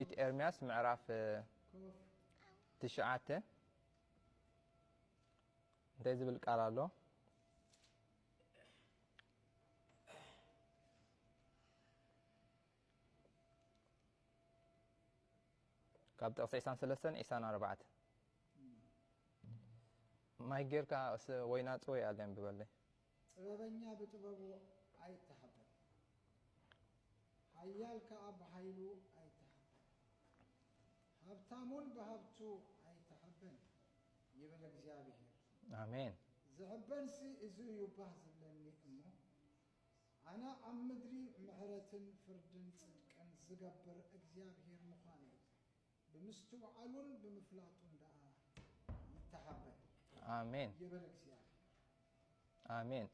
ትንቢት ኤርምያስ ምዕራፍ ትሽዓተ እንታይ ዝብል ቃል ኣሎ? ካብ ጥቕሲ ዒሳን ሰለስተን ዒሳን ኣርባዕተ ማይ ጌርካ ወይና ጽወይ ኣለ ብበለይ ጥበበኛ ብጥበቡ ኣይተሓበን፣ ሓያል ከኣ ብሓይሉ ኣይተሓበን፣ ሃብታምውን ብሃብቱ ኣይተሓበን ይብል እግዚኣብሄር። ኣሜን። ዝሕበንሲ እዚ እዩ ባህ ዝብለኒ እሞ፣ ኣነ ኣብ ምድሪ ምሕረትን ፍርድን ጽድቅን ዝገብር እግዚኣብሄር ምዃነይ ብምስትውዓሉን ብምፍላጡን ደኣ ይተሃበ። ኣሜን ይበል እግዚኣብሔር። ኣሜን።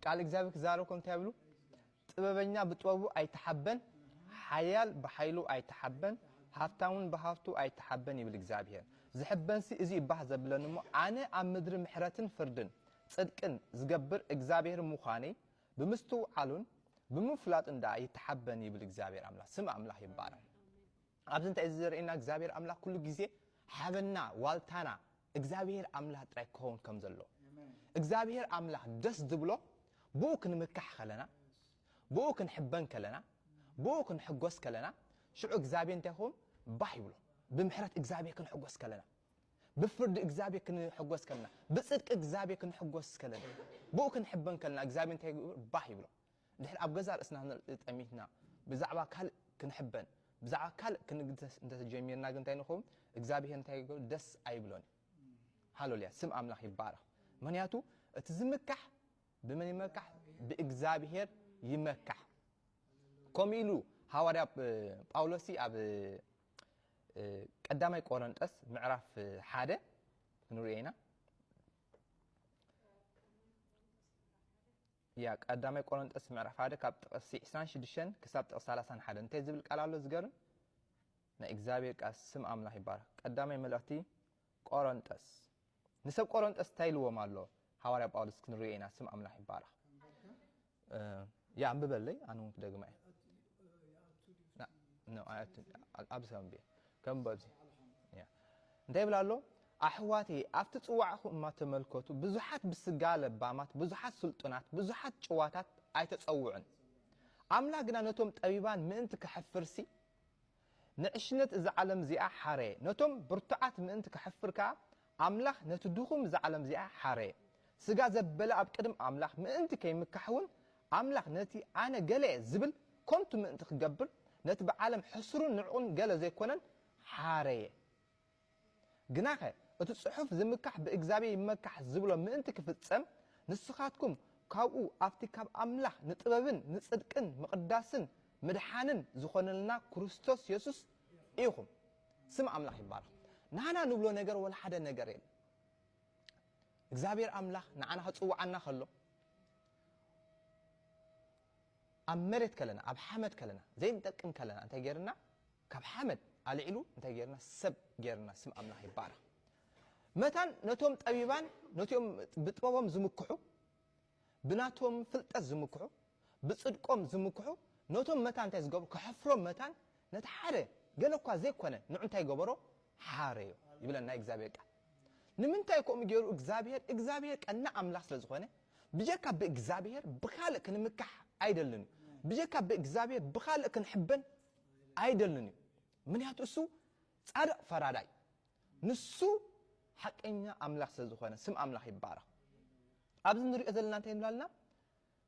ቃል እግዚኣብሔር ክዛረብኩም እንታይ ይብሉ? ጥበበኛ ብጥበቡ ኣይተሓበን፣ ሓያል ብሓይሉ ኣይተሓበን፣ ሃብታውን ብሃብቱ ኣይተሓበን ይብል እግዚኣብሔር። ዝሕበንሲ እዚ ይባህ ዘብለኒ እሞ ኣነ ኣብ ምድሪ ምሕረትን ፍርድን ጽድቅን ዝገብር እግዚኣብሔር ምዃነይ ብምስትውዓሉን ብምፍላጡን ደኣ ይተሓበን ይብል እግዚኣብሔር ኣምላኽ። ስም ኣምላኽ ይባረክ። ኣብዚ እንታይ እዩ ዘርእየና እግዚኣብሔር ኣምላክ ኩሉ ግዜ ሓበንና ዋልታና እግዚኣብሔር ኣምላክ ጥራይ ክኸውን ከም ዘሎ እግዚኣብሔር ኣምላክ ደስ ዝብሎ ብኡ ክንምካሕ ከለና ብኡ ክንሕበን ከለና ብኡ ክንሕጎስ ከለና ሽዑ እግዚኣብሔር እንታይ ይኸውን ባህ ይብሎ ብምሕረት እግዚኣብሔር ክንሕጎስ ከለና ብፍርዲ እግዚኣብሔር ክንሕጎስ ከለና ብፅድቂ እግዚኣብሔር ክንሕጎስ ከለና ብኡ ክንሕበን ከለና እግዚኣብሔር እንታይ ባህ ይብሎ ድሕሪ ኣብ ገዛእ ርእስና ንርኢ ጠሚትና ብዛዕባ ካልእ ክንሕበን ብዛዕባ ካልእ ክንግደስ እንተ ጀሚርና ግን እንታይ ንኸውን? እግዚኣብሄር እንታይ ይገብር? ደስ ኣይብሎን እዩ። ሃለሉያ! ስም ኣምላኽ ይባረኽ። ምክንያቱ እቲ ዝምካሕ ብመን ይመካሕ? ብእግዚኣብሄር ይመካሕ። ከምኡ ኢሉ ሃዋርያ ጳውሎስ ኣብ ቀዳማይ ቆረንጠስ ምዕራፍ ሓደ ክንሪኦ ኢና ያ ቀዳማይ ቆሮንጦስ ምዕራፍ ሓደ ካብ ጥቅሲ ዕስራን ሽዱሽተን ክሳብ ጥቅሲ ሰላሳን ሓደን እንታይ ዝብል ቃል ኣሎ ዝገርም ናይ እግዚኣብሔር ቃል ስም ኣምላኽ ይባረኽ ቀዳማይ መልእኽቲ ቆሮንጦስ ንሰብ ቆሮንጦስ እንታይ ኢልዎም ኣሎ ሃዋርያ ጳውሎስ ክንሪኦ ኢና ስም ኣምላኽ ይባረኽ ያ ኣንብበለይ ኣነ እውን ክደግማ እየ ይኣቱ ድዩ ን- ኣብቲ ን- ኣይ- ኣቲ- ቴሌቪዥን? ኣብ- ኣብዚ ከም ብ- ከም ኣብዚ ኣልሓም ኣልሓም ያ። እንታይ ይብል ኣሎ ኣሕዋተየ ኣብቲ ፅዋዕኹም እማ ተመልከቱ ብዙሓት ብስጋ ለባማት ብዙሓት ስልጡናት ብዙሓት ጭዋታት ኣይተፀውዑን ኣይተጸውዑን ኣምላክ ግና ነቶም ጠቢባን ምእንቲ ከሕፍርሲ ንዕሽነት እዛ ዓለም እዚኣ ሓረየ። ነቶም ብርቱዓት ምእንቲ ከሕፍር ከኣ፣ ኣምላኽ ነቲ ድኹም እዛ ዓለም እዚኣ ሓረየ። ስጋ ዘበለ ኣብ ቅድሚ ኣምላኽ ምእንቲ ከይምካሕውን፣ ኣምላኽ ነቲ ኣነ ገለ'የ ዝብል ከንቱ ምእንቲ ክገብር፣ ነቲ ብዓለም ሕሱርን ንዕቕን ገለ ዘይኮነን ሓረየ። ግናኸ እቲ ጽሑፍ ዝምካሕ ብእግዚኣብሔር ይመካሕ ዝብሎ ምእንቲ ክፍጸም ንስኻትኩም ካብኡ ኣብቲ ካብ ኣምላኽ ንጥበብን ንጽድቅን ምቕዳስን ምድሓንን ዝኾነልና ክርስቶስ የሱስ ኢኹም። ስም ኣምላኽ ይባረኽ። ናህና ንብሎ ነገር ወላ ሓደ ነገር የለን። እግዚኣብሔር ኣምላኽ ንዓና ክጽውዓና ከሎ ኣብ መሬት ከለና ኣብ ሓመድ ከለና ዘይንጠቅም ከለና እንታይ ጌርና ካብ ሓመድ ኣልዒሉ እንታይ ጌርና ሰብ ጌርና ስም ኣምላኽ ይባረኽ መታን ነቶም ጠቢባን ነትኦም ብጥበቦም ዝምክሑ ብናቶም ፍልጠት ዝምክሑ ብጽድቆም ዝምክሑ ነቶም መታን እንታይ ዝገብሩ ከሕፍሮም መታን ነቲ ሓደ ገለ እኳ ዘይኮነ ንዑ እንታይ ገበሮ ሓረዮ ይብለና እግዚኣብሔር ቃል ንምንታይ ከምኡ ገይሩ እግዚኣብሔር እግዚኣብሔር ቀና ኣምላኽ ስለ ዝኾነ ብጀካ ብእግዚኣብሔር ብካልእ ክንምካሕ ኣይደልን እዩ ብጀካ ብእግዚኣብሔር ብካልእ ክንሕበን ኣይደልን እዩ ምንያቱ እሱ ጻድቅ ፈራዳይ ንሱ ሓቀኛ ኣምላኽ ስለ ዝኾነ ስም ኣምላኽ ይባረኽ ኣብዚ ንሪኦ ዘለና እንታይ ንብላልና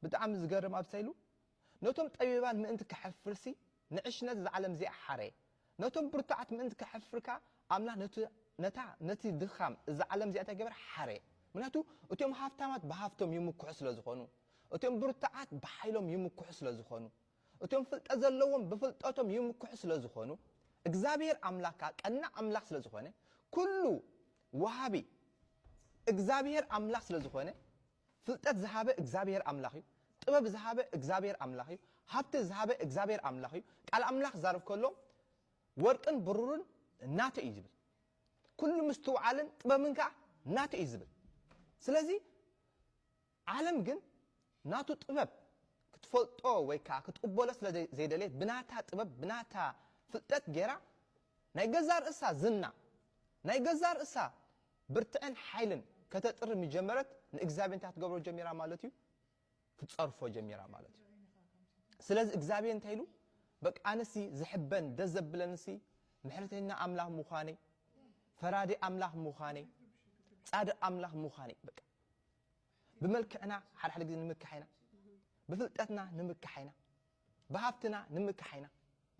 ብጣዕሚ ዝገርም ኣብሳ ኢሉ ነቶም ጠቢባን ምእንቲ ከሕፍርሲ ንዕሽነት እዛ ዓለም እዚኣ ሓረየ ነቶም ብርቱዓት ምእንቲ ከሕፍር ከኣ ኣምላኽ ነቲ ነታ ነቲ ድኻም እዛ ዓለም እዚኣ እንታይ ገበረ ሓረየ ምክንያቱ እቶም ሃፍታማት ብሃፍቶም ይምክሑ ስለ ዝኾኑ እቶም ብርቱዓት ብሓይሎም ይምክሑ ስለ ዝኾኑ እቶም ፍልጠት ዘለዎም ብፍልጠቶም ይምክሑ ስለ ዝኾኑ እግዝኣብሄር ኣምላክ ከኣ ቀናእ ኣምላክ ስለ ዝኾነ ኩሉ ወሃቢ እግዝኣብሄር ኣምላክ ስለ ዝኾነ ፍልጠት ዝሃበ እግዝኣብሄር ኣምላክ እዩ ጥበብ ዝሃበ እግዝኣብሄር ኣምላክ እዩ ሃብቲ ዝሃበ እግዝኣብሄር ኣምላክ እዩ ቃል ኣምላክ ክዛረብ ከሎ ወርቅን ብሩርን ናቱ እዩ ዝብል ኩሉ ምስትውዓልን ጥበብን ከኣ ናቱ እዩ ዝብል ስለዚ ዓለም ግን ናቱ ጥበብ ክትፈልጦ ወይ ከኣ ክትቅበሎ ስለ ዘይደለየት ብናታ ጥበብ ብናታ ፍልጠት ጌራ ናይ ገዛእ ርእሳ ዝና ናይ ገዛእ ርእሳ ብርትዕን ሓይልን ከተጥሪ ምስ ጀመረት ንእግዚኣብሄር እንታይ ክትገብሮ ጀሚራ ማለት እዩ ክትጸርፎ ጀሚራ ማለት እዩ ስለዚ እግዚኣብሄር እንታይ ኢሉ በቃ ኣነሲ ዝሕበን ደስ ዘብለንሲ ምሕረተኛ ኣምላኽ ምዃነይ ፈራዲ ኣምላኽ ምዃነይ ጻድቕ ኣምላኽ ምዃነይ በቃ ብመልክዕና ሓድሓደ ግዜ ንምካሕ ኢና ብፍልጠትና ንምካሕ ኢና ብሃፍትና ንምካሕ ኢና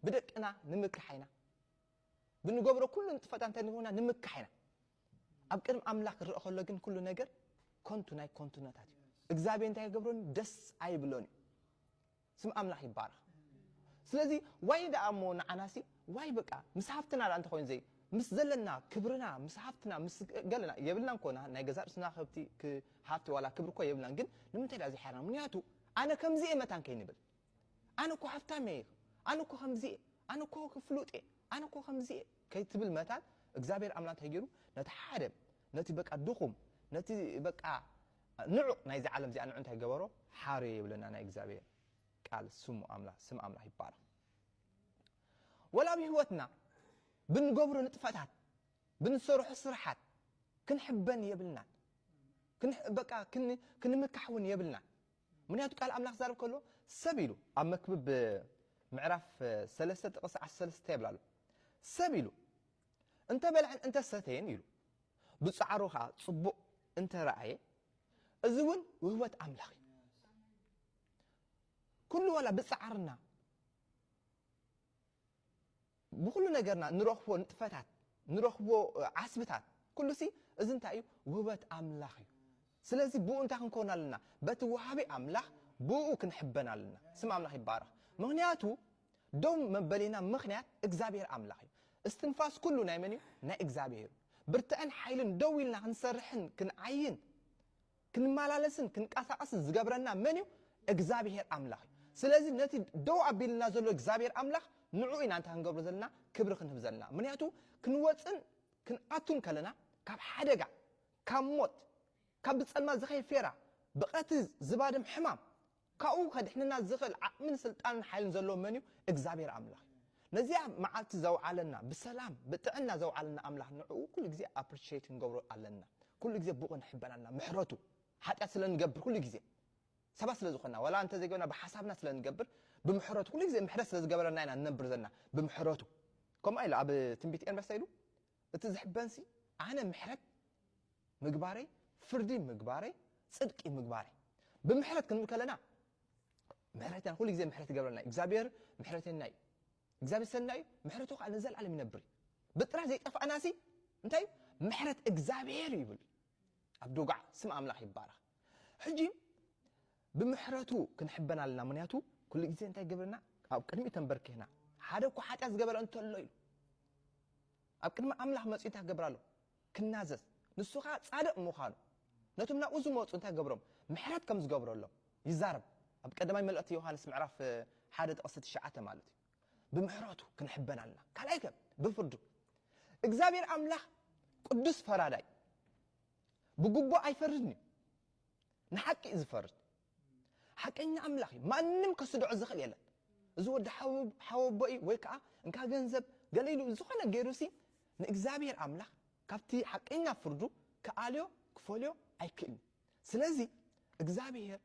ብደቅና ንምካሕ ኢና ብንገብሮ ኩሉ ንጥፈታት እንታይ ንገብርና ንምካሕ ኢና ኣብ ቅድሚ ኣምላኽ ክረአ ከሎ ግን ኩሉ ነገር ኮንቱ ናይ ኮንቱነታት እዩ እግዚኣብሔር እንታይ ይገብረኒ ደስ ኣይብሎን እዩ ስም ኣምላኽ ይባረኽ ስለዚ ዋይ ደኣ እሞ ንዓናሲ ዋይ በቃ ምስ ሃፍትና ደኣ እንተኮይኑ ዘይ ምስ ዘለና ክብርና ምስ ሃፍትና ምስ ገለና የብልናን ኮና ናይ ገዛእ ርእስና ከብቲ ሃፍቲ ዋላ ክብሪ እኮ የብልናን ግን ንምንታይ ደኣ ዘይሓርና ምክንያቱ ኣነ ከምዚ እየ መታን ከይንብል ኣነ እኮ ሃፍታም እየ ኣነ እኮ ከምዚ እየ ኣነ እኮ ፍሉጥ እየ ኣነ እኮ ከምዚ እየ ከይትብል መታን እግዚኣብሔር ኣምላክ እንታይ ገይሩ ነቲ ሓደ ነቲ በቃ ድኹም ነቲ በቃ ንዑ ናይዚ ዓለም እዚኣ ንዑ እንታይ ገበሮ ሓርዮ ይብለና ናይ እግዚኣብሔር ቃል ስሙ ኣምላኽ ስም ኣምላኽ ይባረኽ ወላ ኣብ ህይወትና ብንገብሮ ንጥፈታት ብንሰርሖ ስራሓት ክንሕበን የብልናን በቃ ክንምካሕ እውን የብልናን ምክንያቱ ቃል ኣምላኽ ዛርብ ከሎ ሰብ ኢሉ ኣብ መክብብ ምዕራፍ ሰለስተ ጥቕስ ዓሰርተ ሰለስተ ይብላ ኣሎ ሰብ ኢሉ እንተ በልዐን እንተ ሰተየን ኢሉ ብጻዕሩ ከኣ ጽቡቕ እንተ ረኣየ እዚ ውን ውህበት ኣምላኽ እዩ። ኩሉ ዋላ ብጻዕርና ብኹሉ ነገርና ንረኽቦ ንጥፈታት ንረኽቦ ዓስብታት ኩሉሲ እዚ እንታይ እዩ ውህበት ኣምላኽ እዩ። ስለዚ ብኡ እንታይ ክንከውን ኣለና በቲ ወሃቢ ኣምላኽ ብኡ ክንሕበን ኣለና። ስም ኣምላኽ ይባረኽ። ምክንያቱ ደው መበሊና ምኽንያት እግዝኣብሄር ኣምላኽ እዩ። እስትንፋስ ኩሉ ናይ መን እዩ? ናይ እግዝኣብሄር እዩ። ብርተዐን ሓይልን ደው ኢልና ክንሰርሕን ክንዓይን ክንመላለስን ክንቀሳቐስን ዝገብረና መን እዩ? እግዝኣብሄር ኣምላኽ እዩ። ስለዚ ነቲ ደው ኣቢሉልና ዘሎ እግዝኣብሄር ኣምላኽ ንዕኡ ኢና እንታይ ክንገብሮ ዘለና? ክብሪ ክንህብ ዘለና። ምኽንያቱ ክንወጽን ክንኣቱን ከለና ካብ ሓደጋ ካብ ሞት ካብ ብጸልማት ዝኸይድ ፌራ ብቐትሪ ዝባድም ሕማም ካብኡ ከድሕነና ዝኽእል ዓቕምን ስልጣንን ሓይልን ዘለዎ መን እዩ? እግዚኣብሄር ኣምላኽ እዩ። ነዚኣ መዓልቲ ዘውዓለና፣ ብሰላም ብጥዕና ዘውዓለና ኣምላኽ ንዕኡ ኩሉ ግዜ ኣፕሪሼት ክንገብሮ ኣለና። ኩሉ ግዜ ብኡ ክንሕበን ኣለና። ምሕረቱ፣ ሓጢኣት ስለ ንገብር ኩሉ ግዜ፣ ሰባት ስለ ዝኾንና፣ ዋላ እንተ ዘይገበርና ብሓሳብና ስለ ንገብር፣ ብምሕረቱ ኩሉ ግዜ ምሕረት ስለ ዝገበረልና ኢና ንነብር ዘለና፣ ብምሕረቱ። ከምኡ ኢሉ ኣብ ትንቢት ኤርምያስ እንታይ ኢሉ? እቲ ዝሕበንሲ ኣነ ምሕረት ምግባረይ ፍርዲ ምግባረይ ጽድቂ ምግባረይ ብምሕረት ክንብል ከለና ምሕረተና ኩሉ ግዜ ምሕረት ይገብረልና እግዚኣብሔር ምሕረተና እዩ እግዚኣብሔር ሰናይ እዩ ምሕረቱ ከዓ ንዘለዓለም ይነብር እዩ ብጥራይ ዘይጠፋእናሲ እንታይ እዩ ምሕረት እግዚኣብሔር ይብል ኣብ ዶግዓ ስም ኣምላኽ ይባረኽ ሕጂ ብምሕረቱ ክንሕበን ኣለና ምክንያቱ ኩሉ ግዜ እንታይ ገብረና ኣብ ቅድሚኡ ተንበርኪኽና ሓደ እኳ ሓጢኣት ዝገበረ እንተሎ ኢሉ ኣብ ቅድሚ ኣምላኽ መጺኡ እንታይ ክገብር ኣሎ ክናዘዝ ንሱ ከኣ ጻድቕ ምዃኑ ነቶም ናብኡ ዝመጹ እንታይ ገብሮም ምሕረት ከም ዝገብረሎም ይዛረብ ኣብ ቀዳማይ መልእኽቲ ዮሃንስ ምዕራፍ ሓደ ጥቕሲ ትሽዓተ ማለት እዩ ብምሕረቱ ክንሕበን ኣለና ካልኣይ ከ ብፍርዱ እግዚኣብሔር ኣምላኽ ቅዱስ ፈራዳይ ብግቡእ ኣይፈርድን እዩ ንሓቂ እዩ ዝፈርድ ሓቀኛ ኣምላኽ እዩ ማንም ከስድዖ ዝኽእል የለን እዚ ወዲ ሓወቦ እዩ ወይ ከዓ እንካ ገንዘብ ገለ ኢሉ ዝኾነ ገይሩሲ ንእግዚኣብሔር ኣምላኽ ካብቲ ሓቀኛ ፍርዱ ክኣልዮ ክፈልዮ ኣይክእልን ስለዚ እግዚኣብሔር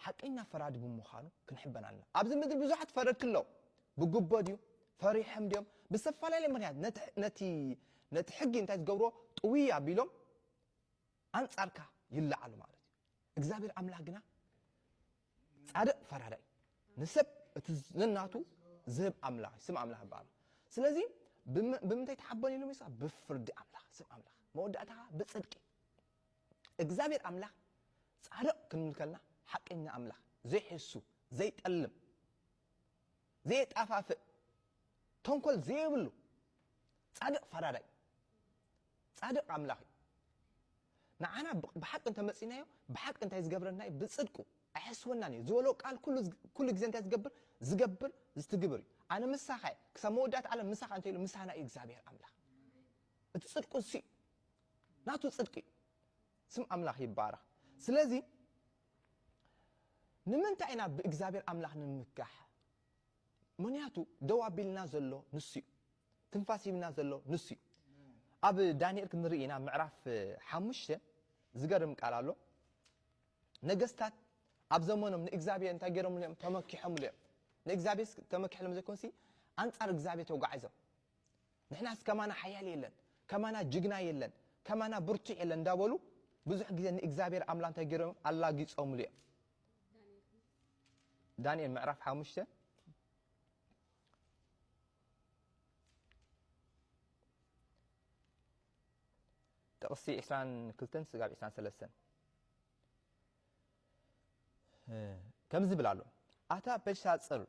ሓቀኛ ፈራዲ ብምዃኑ ክንሕበን ኣለና ኣብዚ ምድሪ ብዙሓት ፈረድቲ ኣለዉ ብጉቦ ድዩ ፈሪሖም ድዮም ብዝተፈላለየ ምክንያት ነቲ ሕጊ እንታይ ዝገብርዎ ጥውይ ኣቢሎም ኣንጻርካ ይለዓሉ ማለት እዩ። እግዚኣብሔር ኣምላኽ ግና ጻድቕ ፈራዳይ እዩ። ንሰብ እቲ ነናቱ ዝህብ ኣምላኽ ስም ኣምላኽ ይበሃል። ስለዚ ብምንታይ ተሓበን ኢሉ ሚሳ ብፍርዲ ኣምላኽ ስም ኣምላኽ መወዳእታኻ ብጽድቂ እግዚኣብሔር ኣምላኽ ጻድቕ ክንብል ከልና ሓቀኛ ኣምላኽ ዘይሕሱ ዘይጠልም ዘየጣፋፍእ ተንኮል ዘየብሉ ጻድቕ ፈራዳይ ጻድቕ ኣምላኽ እዩ ንዓና ብሓቂ እንተመጺናዮ ብሓቂ እንታይ ዝገብረና እዩ ብጽድቁ ኣይሕስወናን እዩ ዝበሎ ቃል ኩሉ ግዜ እንታይ ዝገብር ዝገብር ዝትግብር እዩ ኣነ ምሳኻ እየ ክሳብ መወዳእታ ዓለም ምሳኻ እንተ ኢሉ ምሳና እዩ እግዚኣብሔር ኣምላኽ እቲ ጽድቁ ንሱ እዩ ናቱ ጽድቂ እዩ ስም ኣምላኽ ይባረኽ ስለዚ ንምንታይ ኢና ብእግዚኣብሔር ኣምላኽ ንምምካሕ? ምኽንያቱ ደው ኣቢልና ዘሎ ንሱ እዩ። ትንፋስ ሂብና ዘሎ ንሱ እዩ። ኣብ ዳንኤል ክንርኢ ኢና ምዕራፍ ሓሙሽተ ዝገርም ቃል ኣሎ። ነገስታት ኣብ ዘመኖም ንእግዚኣብሔር እንታይ ገይሮምሉ እዮም? ተመኪሖምሉ እዮም። ንእግዚኣብሔር ተመኪሖም ዘይኮንሲ ኣንጻር እግዚኣብሔር ተጓዒዞም ንሕናስ ከማና ሓያል የለን፣ ከማና ጅግና የለን፣ ከማና ብርቱዕ የለን እንዳበሉ ብዙሕ ግዜ ንእግዚኣብሔር ኣምላ እንታይ ገይሮም እዮም? ኣላጊጾምሉ እዮም። ዳንኤል ምዕራፍ ሓሙሽተ ጥቕሲ ዕስራን ክልተን ስጋብ ዕስራን ሰለስተን ከምዚ ይብል ኣሎ ኣታ በሻጽር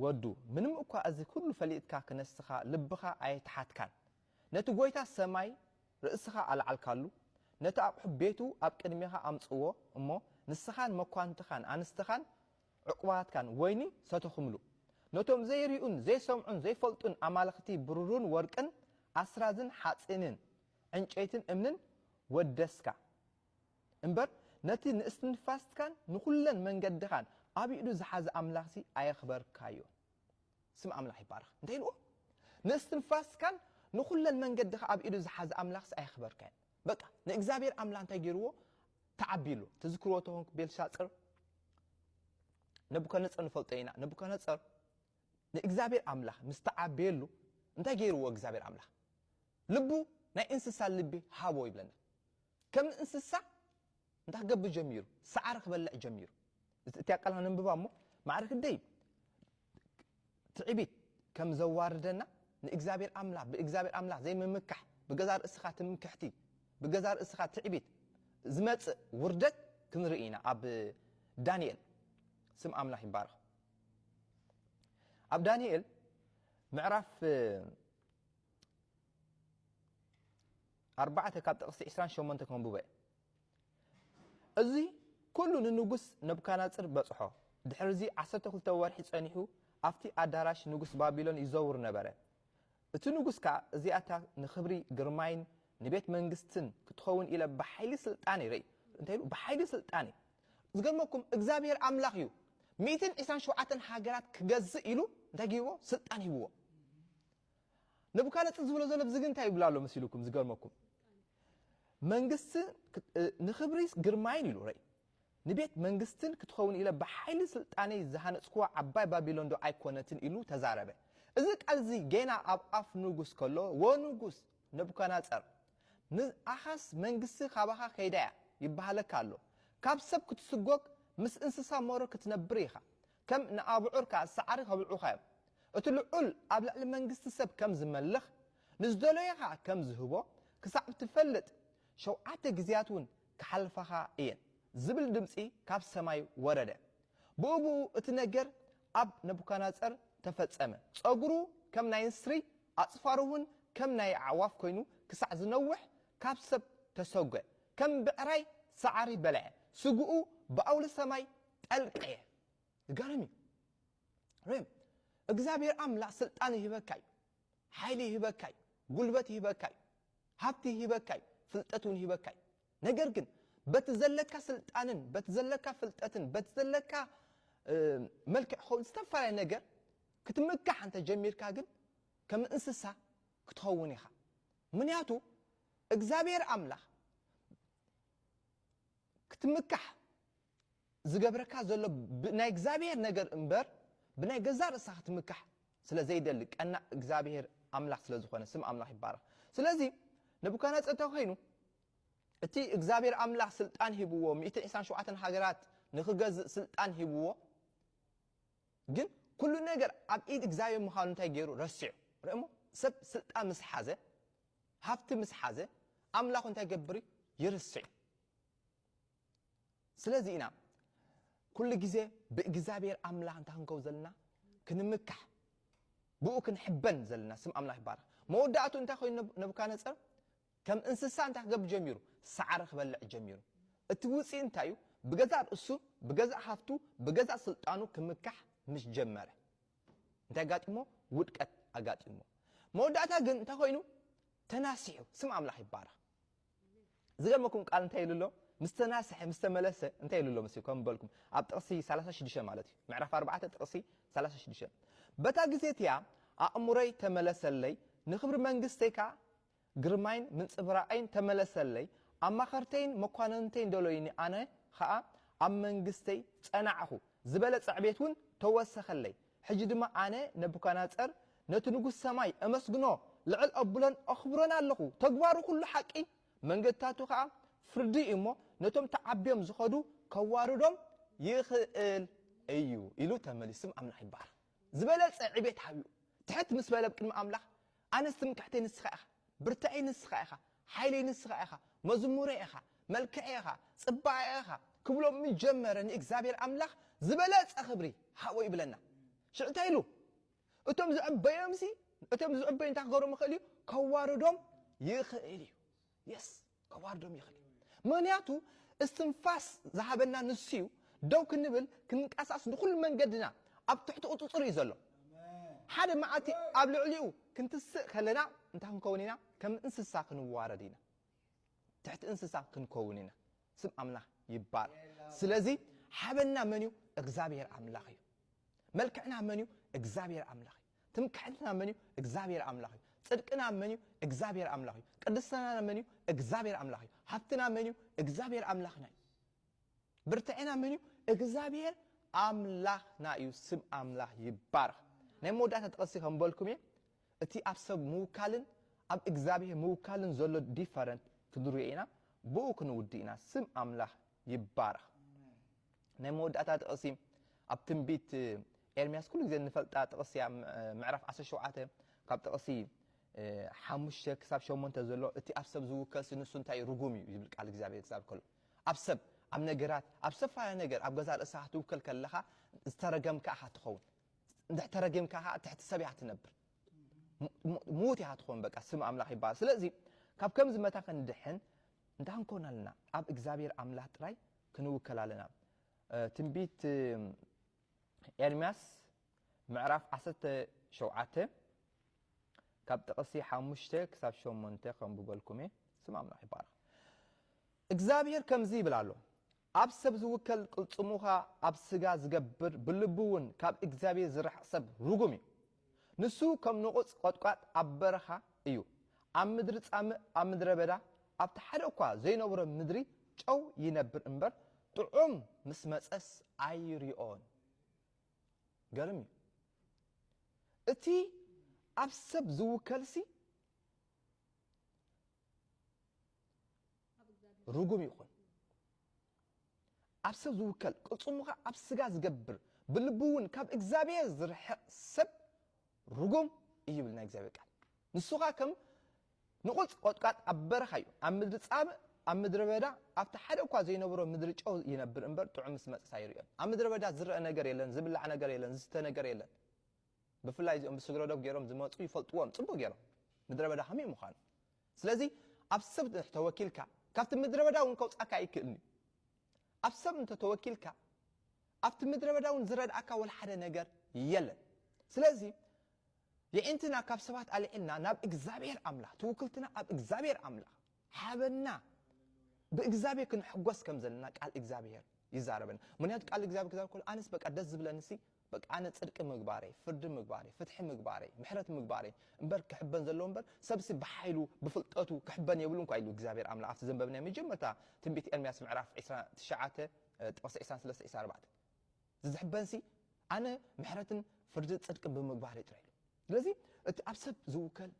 ወዱ ምንም እኳ እዚ ኩሉ ፈሊጥካ ክነስኻ ልብኻ ኣየተሓትካን ነቲ ጎይታ ሰማይ ርእስኻ ኣልዓልካሉ ነቲ ኣቕሑ ቤቱ ኣብ ቅድሜኻ ኣምጽእዎ እሞ ንስኻን መኳንንትኻን ኣንስትኻን ዕቁባትካን ወይኒ ሰተኹምሉ ነቶም ዘይሪኡን ዘይሰምዑን ዘይፈልጡን ኣማልኽቲ ብሩሩን ወርቅን ኣስራዝን ሓጺንን ዕንጨይትን እምንን ወደስካ እምበር ነቲ ንእስትንፋስትካን ንኩለን መንገድኻን ኣብ ኢዱ ዝሓዘ ኣምላኽሲ ኣየኽበርካዮን። ስም ኣምላኽ ይባረኽ። እንታይ ኢልዎ? ንእስትንፋስትካን ንኩለን መንገድኻ ኣብ ኢዱ ዝሓዘ ኣምላኽሲ ኣየኽበርካዮን። በቃ ንእግዚኣብሔር ኣምላኽ እንታይ ገይርዎ? ተዓቢሉ። ትዝክርዎ ተኾንኩ ቤልሻጽር ነቡከነጸር ንፈልጦ ኢና። ነቡከነጸር ንእግዚኣብሔር ኣምላኽ ምስ ተዓበየሉ እንታይ ገይርዎ እግዚኣብሔር ኣምላኽ? ልቡ ናይ እንስሳ ልቢ ሃቦ ይብለና። ከም እንስሳ እንታይ ክገብር ጀሚሩ? ሳዕሪ ክበልዕ ጀሚሩ። እቲ ኣቀላል ነንብባ እሞ ማዕረ ክንደይ ትዕቢት ከም ዘዋርደና ንእግዚኣብሔር ኣምላኽ ብእግዚኣብሔር ኣምላኽ ዘይምምካሕ ብገዛ ርእስኻ ትምክሕቲ ብገዛ ርእስኻ ትዕቢት ዝመጽእ ውርደት ክንርኢ ኢና ኣብ ዳንኤል ስም ኣምላኽ ይባረኽ ኣብ ዳንኤል ምዕራፍ ኣርባዕተ ካብ ጥቕሲ ዕስራን ሸሞንተ ከንብቦ እየ። እዚ ኵሉ ንንጉስ ነቡካድነጽር በጽሖ። ድሕርዚ ዓሰርተ ክልተ ወርሒ ጸኒሑ ኣብቲ ኣዳራሽ ንጉስ ባቢሎን ይዘውር ነበረ። እቲ ንጉስ ከኣ እዚኣታ ንኽብሪ ግርማይን ንቤት መንግስትን ክትኸውን ኢለ ብሓይሊ ስልጣነይ ርእይ እንታይ ኢሉ ብሓይሊ ስልጣነይ ዝገርመኩም እግዚኣብሄር ኣምላኽ እዩ ሚእትን ዕስራን ሸውዓተን ሃገራት ክገዝእ ኢሉ እንታይ ጊብዎ ስልጣን ሂብዎ ነቡካነጽ ዝብሎ ዘሎ ብዝግ እንታይ ይብል ኣሎ መሲሉኩም ዝገርመኩም መንግስት ንክብሪ ግርማይን ኢሉ ረይ ንቤት መንግስትን ክትኸውን ኢለ ብሓይሊ ስልጣነይ ዝሃነጽኩዋ ዓባይ ባቢሎን ዶ ኣይኮነትን ኢሉ ተዛረበ እዚ ቃል እዚ ጌና ኣብ ኣፍ ንጉስ ከሎ ወንጉስ ነቡካናጸር ንኣኻስ መንግስት ካባኻ ከይዳያ ይበሃለካ ኣሎ ካብ ሰብ ክትስጎግ ምስ እንስሳ ሞሮ ክትነብር ኢኻ ከም ንኣብዑርካ ሳዕሪ ከብልዑኻ እዮም። እቲ ልዑል ኣብ ልዕሊ መንግስቲ ሰብ ከም ዝመልኽ፣ ንዝደለዮ ኸኣ ከም ዝህቦ ክሳዕ እትፈልጥ፣ ሸውዓተ ግዜያትውን ክሓልፋኻ እየን፣ ዝብል ድምጺ ካብ ሰማይ ወረደ። ብኡብኡ እቲ ነገር ኣብ ነቡካድነጸር ተፈጸመ። ጸጕሩ ከም ናይ ንስሪ፣ ኣጽፋሩውን ከም ናይ ኣዕዋፍ ኰይኑ ክሳዕ ዝነውሕ ካብ ሰብ ተሰጐ። ከም ብዕራይ ሳዕሪ በልዐ፣ ስግኡ ብኣውሊ ሰማይ ጠልቀ እየ ዝገርም እዩ ሬም እግዚኣብሔር ኣምላክ ስልጣን ይህበካ እዩ ሓይሊ ይህበካ እዩ ጉልበት ይህበካ እዩ ሃብቲ ይህበካ እዩ ፍልጠት እውን ይህበካ እዩ ነገር ግን በቲ ዘለካ ስልጣንን በቲ ዘለካ ፍልጠትን በቲ ዘለካ መልክዕ ክኸውን ዝተፈላለዩ ነገር ክትምካሕ እንተ ጀሚርካ ግን ከም እንስሳ ክትኸውን ኢኻ ምክንያቱ እግዚኣብሔር ኣምላኽ ክትምካሕ ዝገብረካ ዘሎ ብናይ እግዚኣብሔር ነገር እምበር ብናይ ገዛእ ርእስኻ ክትምካሕ ስለ ዘይደሊ ቀናእ እግዚኣብሔር ኣምላኽ ስለ ዝኾነ ስም ኣምላኽ ይባረኽ ስለዚ ነቡካድነጸር እንተ ኮይኑ እቲ እግዚኣብሔር ኣምላኽ ስልጣን ሂብዎ ሚእትን ዒስራን ሸውዓተን ሃገራት ንኽገዝእ ስልጣን ሂብዎ ግን ኩሉ ነገር ኣብ ኢድ እግዚኣብሔር ምዃኑ እንታይ ገይሩ ረሲዑ ርእሞ ሰብ ስልጣን ምስ ሓዘ ሃፍቲ ምስ ሓዘ ኣምላኹ እንታይ ገብር ይርስዕ ስለዚ ኢና ኩሉ ግዜ ብእግዝኣብሄር ኣምላኽ እንታይ ክንከውን ዘለና ክንምካሕ ብኡ ክንሕበን ዘለና ስም ኣምላኽ ይባረኽ መወዳእቱ እንታይ ኮይኑ ነቡካነጸር ከም እንስሳ እንታይ ክገብር ጀሚሩ ሳዕሪ ክበልዕ ጀሚሩ እቲ ውፅኢ እንታይ እዩ ብገዛእ ርእሱ ብገዛእ ሃፍቱ ብገዛእ ስልጣኑ ክምካሕ ምስ ጀመረ እንታይ ኣጋጢሞ ውድቀት ኣጋጢሞ መወዳእታ ግን እንታይ ኮይኑ ተናሲሑ ስም ኣምላኽ ይባረኽ ዝገርመኩም ቃል እንታይ ኢሉ ኣሎ ምስ ተናስሐ ምስ ተመለሰ እንታይ ኢሉ ኣሎ መሲ ከም በልኩም ኣብ ጥቕሲ ሰላሳ ሽዱሽተ ማለት እዩ ምዕራፍ ኣርባዕተ ጥቕሲ ሰላሳ ሽዱሽተ በታ ግዜ እቲኣ ኣእምሮይ ተመለሰለይ ንክብሪ መንግስተይ ከኣ ግርማይን ምንጽብራቐይን ተመለሰለይ ኣማኸርተይን መኳንንተይን ደሎዩኒ ኣነ ኸኣ ኣብ መንግስተይ ጸናዕኹ ዝበለጸ ዕቤት እውን ተወሰኸለይ ሕጂ ድማ ኣነ ነቡካድነጸር ነቲ ንጉስ ሰማይ እመስግኖ፣ ልዕል እብሎን እኽብሮን ኣሎኹ፣ ተግባሩ ዅሉ ሓቂ፣ መንገድታቱ ኸኣ ፍርዲ እዩ እሞ፣ ነቶም ተዓብዮም ዚኸዱ ኬዋርዶም ይኽእል እዩ ኢሉ ተመሊሱ። ኣምላኽ ይባረኽ። ዝበለጸ ዕቤት ሃብኡ ትሕት ምስ በለ ኣብ ቅድሚ ኣምላኽ ኣነስ ትምክሕተይ ንስኻ ኢኻ ብርተዐይ ንስኻ ኢኻ ሓይለይ ንስኻ ኢኻ መዝሙረይ ኢኻ መልክዐይ ኢኻ ጽባቐይ ኢኻ ክብሎ ምስ ጀመረ ንእግዚኣብሔር ኣምላኽ ዝበለጸ ክብሪ ሃቦ ይብለና ሽዑ እንታይ ኢሉ እቶም ዝዕበዮምሲ እቶም ዝዕበዩ እንታይ ክገብሮም ይኽእል እዩ ከዋርዶም ይኽእል እዩ የስ ከዋርዶም ይኽእል እዩ ምኽንያቱ እስትንፋስ ዝሃበና ንሱ እዩ ደው ክንብል ክንንቀሳስ ንኹሉ መንገድና ኣብ ትሕቲ ቁጽጽር እዩ ዘሎ ሓደ መዓልቲ ኣብ ልዕሊኡ ክንትስእ ከለና እንታይ ክንከውን ኢና ከም እንስሳ ክንዋረድ ኢና ትሕቲ እንስሳ ክንከውን ኢና ስም ኣምላኽ ይባር ስለዚ ሓበና መን እዩ እግዚኣብሔር ኣምላኽ እዩ መልክዕና መን እዩ እግዚኣብሔር ኣምላኽ እዩ ትምክሕትና መን እዩ እግዝኣብሄር ኣምላኽ እዩ ጽድቅና መን እዩ እግዝኣብሄር ኣምላኽ እዩ ቅድስናና መን እዩ እግዝኣብሄር ኣምላኽ እዩ ሃብትና መን እዩ እግዝኣብሄር ኣምላኽና እዩ ብርትዔና መን እዩ እግዝኣብሄር ኣምላኽና እዩ ስም ኣምላኽ ይባረኽ ናይ መወዳእታ ጥቕሲ ከም በልኩም እየ እቲ ኣብ ሰብ ምውካልን ኣብ እግዚኣብሄር ምውካልን ዘሎ ዲፈረንት ክንሪኦ ኢና ብኡ ክንውዲ ኢና ስም ኣምላኽ ይባረኽ ናይ መወዳእታ ጥቕሲ ኣብ ትንቢት ኤርምያስ ኩሉ ግዜ እንፈልጣ ጥቕሲ እያ ምዕራፍ ዓሰርተ ሸውዓተ ካብ ጥቕሲ ሓሙሽተ ክሳብ ሸሞንተ ዘሎ እቲ ኣብ ሰብ ዝውከስ ንሱ እንታይ ርጉም እዩ ዝብል ቃል እግዚኣብሔር ክዛብ ከሎ ኣብ ሰብ ኣብ ነገራት ኣብ ሰፋያ ነገር ኣብ ገዛ ርእስኻ ክትውከል ከለኻ ዝተረገምካ ኢኻ ትኸውን እንድሕተረጊምካ ከዓ ትሕቲ ሰብ ኢኻ ትነብር ምዉት ኢኻ ትኸውን በቃ ስም ኣምላኽ ይበሃል ስለዚ ካብ ከምዚ መታ ክንድሕን እንታይ ክንኮን ኣለና ኣብ እግዚኣብሔር ኣምላኽ ጥራይ ክንውከል ኣለና ትንቢት ኤርምያስ ምዕራፍ ዓሰርተ ሸውዓተ ካብ ጥቕሲ ሓሙሽተ ክሳብ ሸሞንተ ከንብበልኩም እየ ስም ኣምላኽ ይባረኽ እግዚኣብሄር ከምዚ ይብል ኣሎ ኣብ ሰብ ዝውከል ቅልፅሙኻ ኣብ ስጋ ዝገብር ብልቡ እውን ካብ እግዚኣብሄር ዝርሕቕ ሰብ ርጉም እዩ ንሱ ከም ንቑጽ ቈጥቋጥ ኣብ በረኻ እዩ፣ ኣብ ምድሪ ጻምእ፣ ኣብ ምድረ በዳ፣ ኣብቲ ሓደ እኳ ዘይነብሮ ምድሪ ጨው ይነብር እምበር፣ ጥዑም ምስ መጸስ ኣይሪኦን። ገርም እዩ። እቲ ኣብ ሰብ ዝውከልሲ፣ ርጉም ይኹን ኣብ ሰብ ዝውከል ቅልጽሙ ከኣ ኣብ ስጋ ዝገብር ብልቡ እውን ካብ እግዚኣብሔር ዝርሕቕ ሰብ ርጉም እዩ ይብል ናይ እግዚኣብሔር ቃል ንሱ ከኣ ከም ንቑጽ ቆጥቃጥ ኣብ በረኻ እዩ ኣብ ምድሪ ጻምእ ኣብ ምድረ በዳ ኣብቲ ሓደ እኳ ዘይነበሮ ምድሪ ጨው ይነብር እምበር ጥዑም ምስ መጽስ ኣይርእዮን ኣብ ምድረ በዳ ዝረአ ነገር የለን ዝብላዕ ነገር የለን ዝስተ ነገር የለን ብፍላይ እዚኦም ብስግረዶብ ገይሮም ዝመፁ ይፈልጥዎም ፅቡቅ ገይሮም ምድረ በዳ ከመይ ምዃኑ ስለዚ ኣብ ሰብ ድሕ ተወኪልካ ካብቲ ምድረበዳ ውን ከውጻካ ኣይክእልን እዩ ኣብ ሰብ እንተ ተወኪልካ ኣብቲ ምድረበዳ ውን ዝረድኣካ ወላ ሓደ ነገር የለን ስለዚ የዒንትና ካብ ሰባት ኣልዒልና ናብ እግዚኣብሔር ኣምላኽ ትውክልትና ኣብ እግዚኣብሔር ኣምላኽ ሓበና ብእግዚኣብሔር ክንሕጎስ ከም ዘለና ቃል እግዚኣብሔር ይዛረበና ምክንያቱ ቃል እግዚኣብሔር ክዛረብ ከሎ ኣነስ በቃ ደስ ዝብለንሲ በቃ ኣነ ጽድቂ ምግባረይ ፍርዲ ምግባረይ ፍትሒ ምግባረይ ምሕረት ምግባረይ እምበር ክሕበን ዘለዎ እምበር ሰብሲ ብሓይሉ ብፍልጠቱ ክሕበን የብሉን እኳ ኢሉ እግዚኣብሔር ኣምላኽ ኣብቲ ዘንበብናዮ መጀመርታ ትንቢት ኤርምያስ ምዕራፍ ዒስራ ትሽዓተ ጥቕሲ ዒስራን ሰለስተ ዒስራን ኣርባዕተን ዝዝሕበንሲ ኣነ ምሕረትን ፍርድን ጽድቅን ብምግባረይ ጥራይ ኢሉ ስለዚ እቲ ኣብ ሰብ ዝውከል፣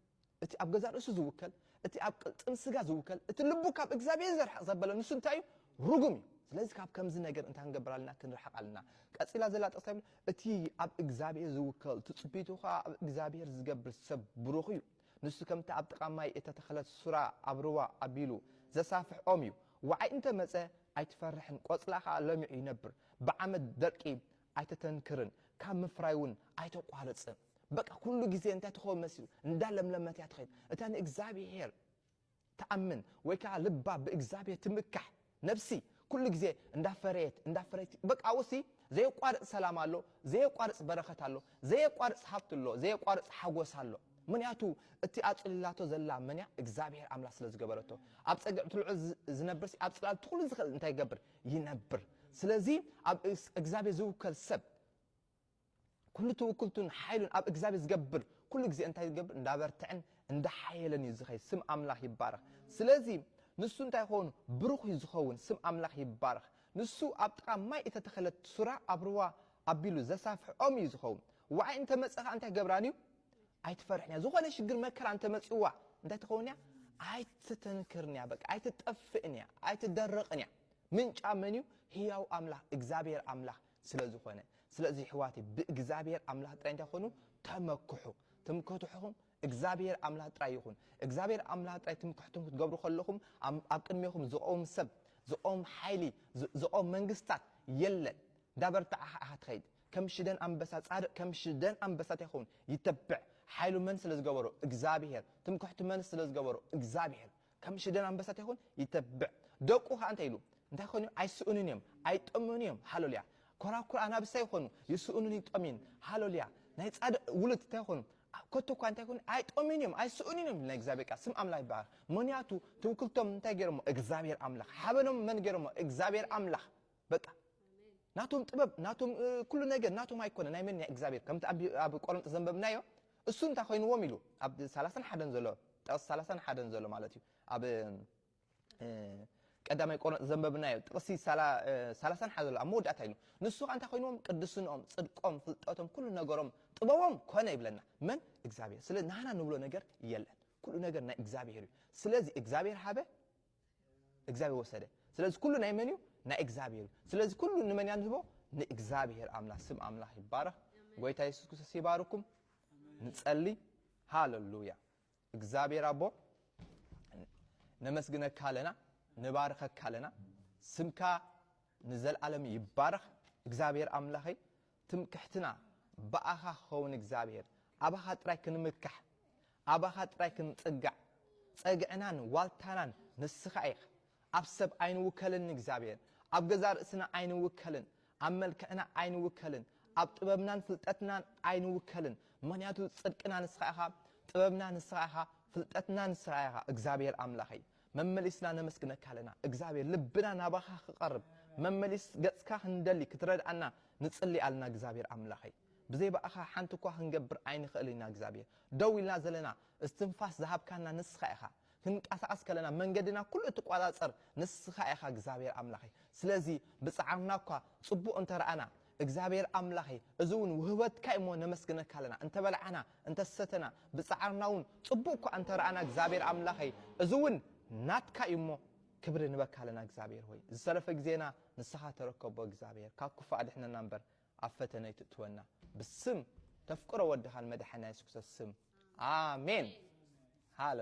እቲ ኣብ ገዛእ ርእሱ ዝውከል፣ እቲ ኣብ ቅልጽም ስጋ ዝውከል፣ እቲ ልቡ ካብ እግዚኣብሄር ዘርሕቕ ዘበለ ንሱ እንታይ እዩ? ርጉም እዩ። ስለዚ ካብ ከምዚ ነገር እንታይ ክንገብር ኣለና? ክንርሕቕ ኣለና። ቀጺላ ዘላ ጥቕሲ እንታይ ትብል? እቲ ኣብ እግዚኣብሄር ዝውከል፣ ትጽቢቱ ኸኣ ኣብ እግዚኣብሄር ዝገብር ሰብ ብሩኽ እዩ። ንሱ ከምታ ኣብ ጥቓ ማይ እተተኸለት ሱራ ኣብ ሩባ ኣቢሉ ዘሳፍሕ ኦም እዩ። ወዓይ እንተ መጸ ኣይትፈርሕን፣ ቆጽላ ኸኣ ለሚዑ ይነብር። ብዓመት ደርቂ ኣይተተንክርን ካብ ምፍራይ ውን ኣይተቋርጽን በቃ ኩሉ ግዜ እንታይ ትኸውን መሲሉ እንዳ ለምለመት እያ ትኸይድ እታ ንእግዚኣብሄር ትኣምን ወይ ከኣ ልባ ብእግዚኣብሄር ትምካሕ ነብሲ ኩሉ ግዜ እንዳ ፈረየት እንዳ ኣፍረየት በቃ ኣብኡሲ ዘየቋርጽ ሰላም ኣሎ ዘየቋርጽ በረኸት ኣሎ ዘየቋርጽ ሃብቲ ኣሎ ዘየቋርጽ ሓጎስ ኣሎ ምንያቱ እቲ ኣጽሊላቶ ዘላ መንያ እግዚኣብሄር ኣምላኽ ስለ ዝገበረቶ ኣብ ጸግዒ ትልዑል ዝነብርሲ ኣብ ጽላል ትኹሉ ዝኽእል እንታይ ይገብር ይነብር ስለዚ ኣብ እግዚኣብሔር ዝውከል ሰብ ኩሉ ትውክልቱን ሓይሉን ኣብ እግዚኣብሔር ዝገብር ኩሉ ግዜ እንታይ ዝገብር እንዳበርትዕን እንዳሓየለን እዩ ዝኸይ ስም ኣምላኽ ይባረኽ ስለዚ ንሱ እንታይ ይኸውን ብሩኽ እዩ ዝኸውን ስም ኣምላኽ ይባረኽ ንሱ ኣብ ጥቓ ማይ እተተኸለት ሱራ ኣብ ርዋ ኣቢሉ ዘሳፍሕ ኦም እዩ ዝኸውን ዋዓይ እንተመፀ ከዓ እንታይ ገብራን እዩ ኣይትፈርሕንያ ዝኾነ ሽግር መከራ እንተመጺዋ እንታይ ትኸውንያ ኣይትተንክርንያ በቃ ኣይትጠፍእንያ ኣይትደርቕንያ ምንጫ መንዩ ህያው ኣምላኽ እግዚኣብሔር ኣምላኽ ስለ ዝኾነ ስለዚ ይሕዋተይ ብእግዚኣብሔር ኣምላኽ ጥራይ እንታይ ኮኑ ተመክሑ ትምክሕትሑኹም እግዚኣብሔር ኣምላኽ ጥራይ ይኹን እግዚኣብሔር ኣምላኽ ጥራይ ትምክሕቱም ክትገብሩ ከለኹም ኣብ ቅድሜኹም ዝቖም ሰብ ዝቖም ሓይሊ ዝቖም መንግስታት የለን እንዳበርትዓኻ ኢኻ ትኸይድ ከም ሽደን ኣንበሳ ጻድቅ ከም ሽደን ኣንበሳ ታይ ክከውን ይተብዕ ሓይሉ መን ስለ ዝገበሮ እግዝኣብሄር ትምክሕቱ መንስ ስለ ዝገበሮ እግዝኣብሄር ከም ሽደን ኣንበሳ ታይ ክከውን ይተብዕ ደቁ ከኣ እንታይ ኢሉ እንታይ ክኮኑ እዮም ኣይስእኑን እዮም ኣይጠምዩን እዮም ሃሎልያ ኮራኩር ኣናብስ ታይ ክኮኑ ይስእኑን ይጠምዩን ሃሎልያ ናይ ጻድቅ ውሉድ ታይ ክኮኑ ከቶ እኳ እንታይ ክኮኑ ኣይጠምዩን እዮም ኣይስእኑን እዮም ናይ እግዚኣብሄር ቃል ስም ኣምላክ ይባረክ ምክንያቱ ትውክልቶም እንታይ ገይሮሞ እግዝኣብሄር ኣምላክ ሓበኖም መን ገይሮሞ እግዝኣብሄር ኣምላክ በቃ ናቶም ጥበብ ናቶም ኩሉ ነገር ናቶም ኣይኮነ ናይ መን ናይ እግዚኣብሔር ከምቲ ኣብ ቆሮንጦስ ዘንበብናዮ እሱ እንታይ ኮይንዎም ኢሉ ኣብ ሰላሳን ሓደን ዘሎ ጥቕሲ ሰላሳን ሓደን ዘሎ ማለት እዩ ኣብ ቀዳማይ ቆሮንጦስ ዘንበብናዮ ጥቕሲ ሰላሳን ሓደን ዘሎ ኣብ መወዳእታ ኢሉ ንሱ ከዓ እንታይ ኮይንዎም ቅድስንኦም ፅድቆም ፍልጠቶም ኩሉ ነገሮም ጥበቦም ኮነ ይብለና መን እግዚኣብሔር ስለ ናህና ንብሎ ነገር የለን ኩሉ ነገር ናይ እግዚኣብሔር እዩ ስለዚ እግዚኣብሔር ሃበ እግዚኣብሔር ወሰደ ስለዚ ኩሉ ናይ መን እዩ ናይ እግዚኣብሔር እዩ ስለዚ ኩሉ ንመን እያ ንህቦ ንእግዚኣብሔር ኣምላክ ስም ኣምላክ ይባረክ ጎይታ የሱስ ክርስቶስ ይባርኩም ንጸሊ ሃለሉያ እግዚኣብሔር ኣቦ ነመስግነካ ኣለና ንባርከካ ኣለና ስምካ ንዘለኣለም ይባረክ እግዚኣብሔር ኣምላኸይ ትምክሕትና ብኣኻ ክኸውን እግዚኣብሔር ኣባኻ ጥራይ ክንምካሕ ኣባኻ ጥራይ ክንጽጋዕ ጸግዕናን ዋልታናን ንስኻ ኢኻ ኣብ ሰብ ኣይንውከልን ንእግዚኣብሔር ኣብ ገዛ ርእስና ኣይንውከልን ኣብ መልክዕና ኣይንውከልን ኣብ ጥበብናን ፍልጠትናን ኣይንውከልን ምክንያቱ ጽድቅና ንስኻ ኢኻ ጥበብና ንስኻ ኢኻ ፍልጠትና ንስኻ ኢኻ እግዚኣብሔር ኣምላኸይ መመሊስና ነመስግነካ ኣለና እግዝኣብሄር ልብና ናባካ ክቀርብ መመሊስ ገጽካ ክንደሊ ክትረድኣና ንጽሊ ኣለና እግዝኣብሄር ኣምላኸይ ብዘይ ባኣኻ ሓንቲ እኳ ክንገብር ኣይንክእል ኢና እግዝኣብሄር ደው ኢልና ዘለና እስትንፋስ ዝሃብካና ንስካ ኢካ ክንቃሳቀስ ከለና መንገድና ኩሉ እትቋጻጸር ንስካ ኢካ እግዝኣብሄር ኣምላኸይ ስለዚ ብጻዓርና እኳ ጽቡቅ እንተራኣና እግዚኣብሔር ኣምላኸይ እዚውን ውህበትካ እዩ እሞ ነመስግነካ ኣለና እንተበላዕና እንተሰተና ብጻዕርና እውን ጽቡቅ እኳ እንተረኣና እግዚኣብሔር ኣምላኸይ እዚውን ናትካ እዩ እሞ ክብሪ ንበካ ኣለና እግዚኣብሔር ሆይ ዝተረፈ ግዜና ንስኻ ተረከቦ እግዚኣብሔር ካብ ክፉእ ኣድሕነና እምበር ኣብ ፈተነ ኣይትእትወና ብስም ተፍቅሮ ወድኻን መድሓኒና የሱስ ክርስቶስ ስም ኣሜን ሃለ